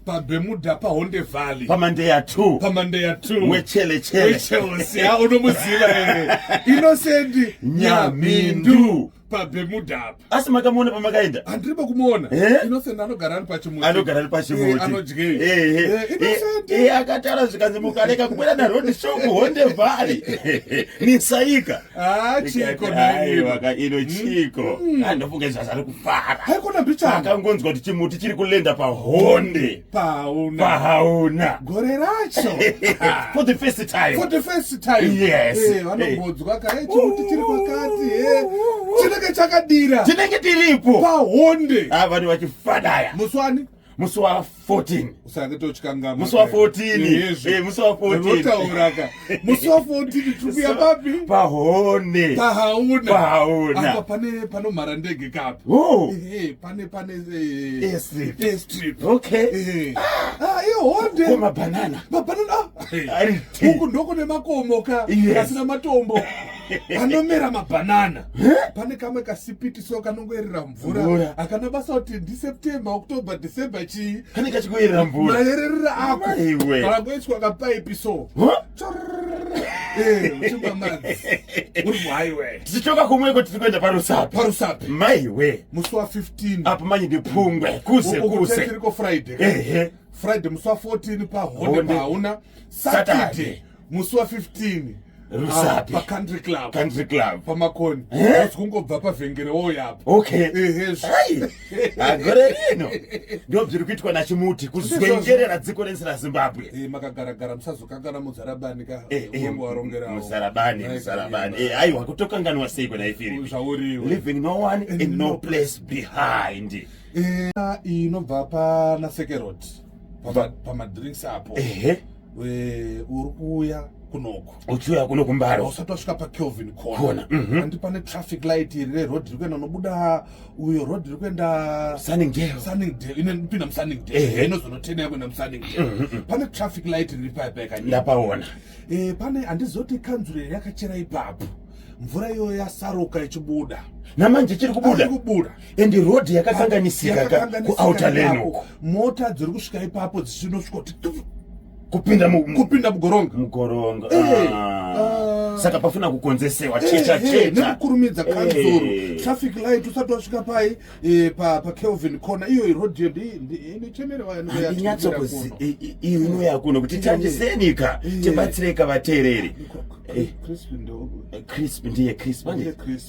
pabemuda pahonde valley pamandeya t pamandeya t wechelechelecheosia unomuziva ere inosendi nyamindu pabemudhapa asi makamuona pamakaenda handiri pakumuona eh? innocent anogara ari pachimuti anogara ari pachimuti eh, anodyei eh, akatara zvikanzi mukareka kukwira naroad show kuhonde valley nisaika Ah, chiko naiwaka ino chiko mm-hmm. ah, ndofunga izvi zvazari kufara haikona bichana akangonzwa kuti chimuti chiri kulenda pahonde pahauna pahauna gore racho for the first time for the first time yes eh vanongonzwa eh. kare chimuti chiri kwakati eh chinenge chakadira chinenge tiripo pahonde ah vanhu vachifanaya muswani musi wa 14 usange tochikangama musi wa 14 eh musi wa 14 unotauraka musi wa 14 tikuya papi pahone pahauna pahauna apa pane panomhara ndege kapi oh eh pane pane eh strip eh strip okay eh ah iyo ah, honde koma banana ba banana ari huko ndoko nemakomo ka asina matombo anomera mabanana pane kamwe kasipiti so kanongoerera mvura akana basa kuti ndiseptember october december chii kane kachikuerera mvura mayererera ako iwe kana kuiswa kapaipi so tichichoka kumweko tiri kuenda parusapi parusapi maiwe musi wa 15 apo manye ndipungwe kuse kuse tiriko friday ehe friday musi wa 14 pahonde pahauna saturday, saturday. musi wa 15 rusapi ah, pacountry club country club pamakoni eh? asi kungobva pavhengere woyapo okay ehe agore ah, rino ndo bziri kuitwa na chimuti kuzwengerera dziko rensi ra zimbabwe eh makagara gara musazokangana muzarabani ka eh, eh, wangu warongera muzarabani muzarabani eh ayi wakutokanganwa sei kona ifiri zvauriwe living no one in no place behind eh inobva pa na sekeroti pamadrinks apo ehe uri kuuya kunoku uchiuya kuno kumbaro usati wasvika pakelvin corner mhm. handi pane traffic light iri reroad riri kuenda unobuda uyo road riri kuenda sunningdale sunningdale inopinda musunningdale inozonotendea kuenda musunningdale mhm, mhm. pane traffic light riri paya paya kanyika ndapaona eh, pane handizoti kanzuro iri yakachera ipapo mvura iyoyo yasaruka ichibuda namanje chiri kubuda kubuda and road yakakanganisika kuouter lane uko mota dziri kusvika ipapo dzichinosvika kuti kupinda kupinda mugoronga mugoronga eh, ah. ah. saka pafuna kukonzesewa eh, checha eh, checha nekukurumidza kanzuru traffic light usati wasvika pai pa pa Kelvin corner iyo road yo inochemera vanhu vanyatso kuzi iyo inoya kuno kuti tandisenika tibatsireka vateereri crisp ndiye crisp ndiye crisp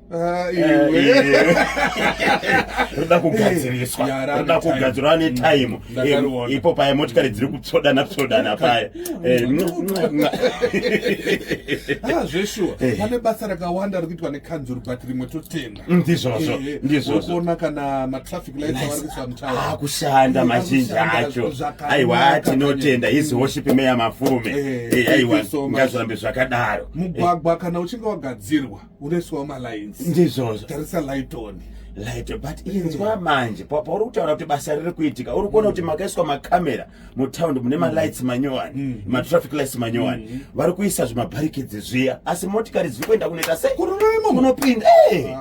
Ah, roda kugadziriswa roda kugadzirwa ane time ipo paya motikari dziri kutsodana tsodana paya eh, ah, zveshuwa eh. pane basa rakawanda ri kuitwa nekanzuru but rimwe totenda mm, ndizvozvo eh, ndizvozvoona kana matraffic lightakushanda ah, mazhinji acho aiwa tinotenda his worship meya mafume aiwa ngazvirambe zvakadaro mugwagwa kana uchinge wagadzirwa unoiswawo malines ndizvozvo tarisa lighton lighton but inzwa mm. manje pauri kutaura kuti basa riri kuitika uri kuona kuti mm. makaiswa macamera mutaundi mune mm. malights manyowani matraffic lights manyowani vari kuisa zvimabarikedzi zviya asi motikari dziri kuenda kunoita sei kunopinda eh!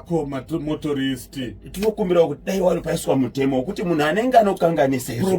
motorist tinokumbirawo kuti dai wari paiswa mutemo wekuti munhu anenge anokanganisa izvo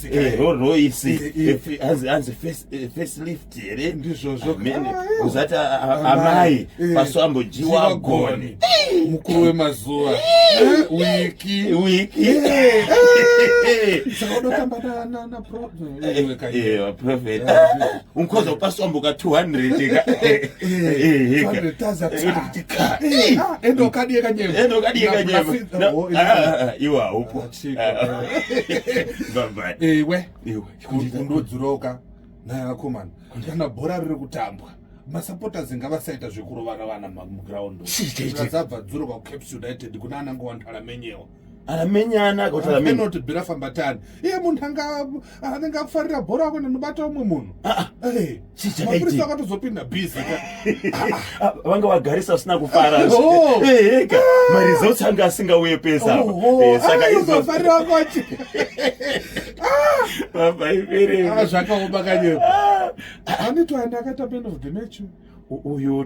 Eh, roro isi eh, eh, hanzi facelift here ndizvozvo uzati amai paso ambojiwa goni mukuru wemazuva wiki wiki saka unotamba naprofet unkoza paso amboka 200 endokadiyekanyema iwa upo iwe kundodzoroka naakomana kana bhora riri kutambwa masupporters ngavasaita zvekurovana vana muground zvadzabva dzoro kwacaps united kuna anange wantara menyewa aramenyana akautaamenoti bira fambatani iye munhu anga Ah, anenge akufarira bhora ako ndinobata umwe munhu ah, ah, eh, mapurisa akatozopinda busy vanga vagarisa usina kufara oh. eh, eka maresults anga asingauye pesa oh, oh. eh, saka izofarira kwacho babaibere zvakaoma kanyepo anitoanda akaita man of the match uyu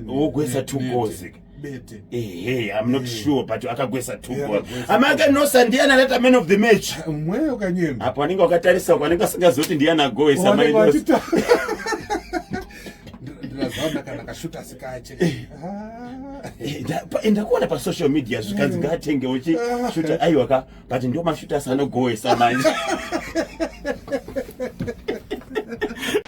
wogwesa tugozi bete ehe i'm not Eh. sure but akagwesa Yeah, tugo akagwesa. amake nosa ndiye analeta man of the match mweyo kanyemba apo anenge wakatarisa uko anenge asingazoti ndiye anagoesa Wanenge mainosa wachita- Ndira- ndirazaona kana kashuta sikache Ah. ndakuona pasocial media zvikanzi ngaatengewo chi shuta aiwa ka but ndio mashuta asanogoesa manje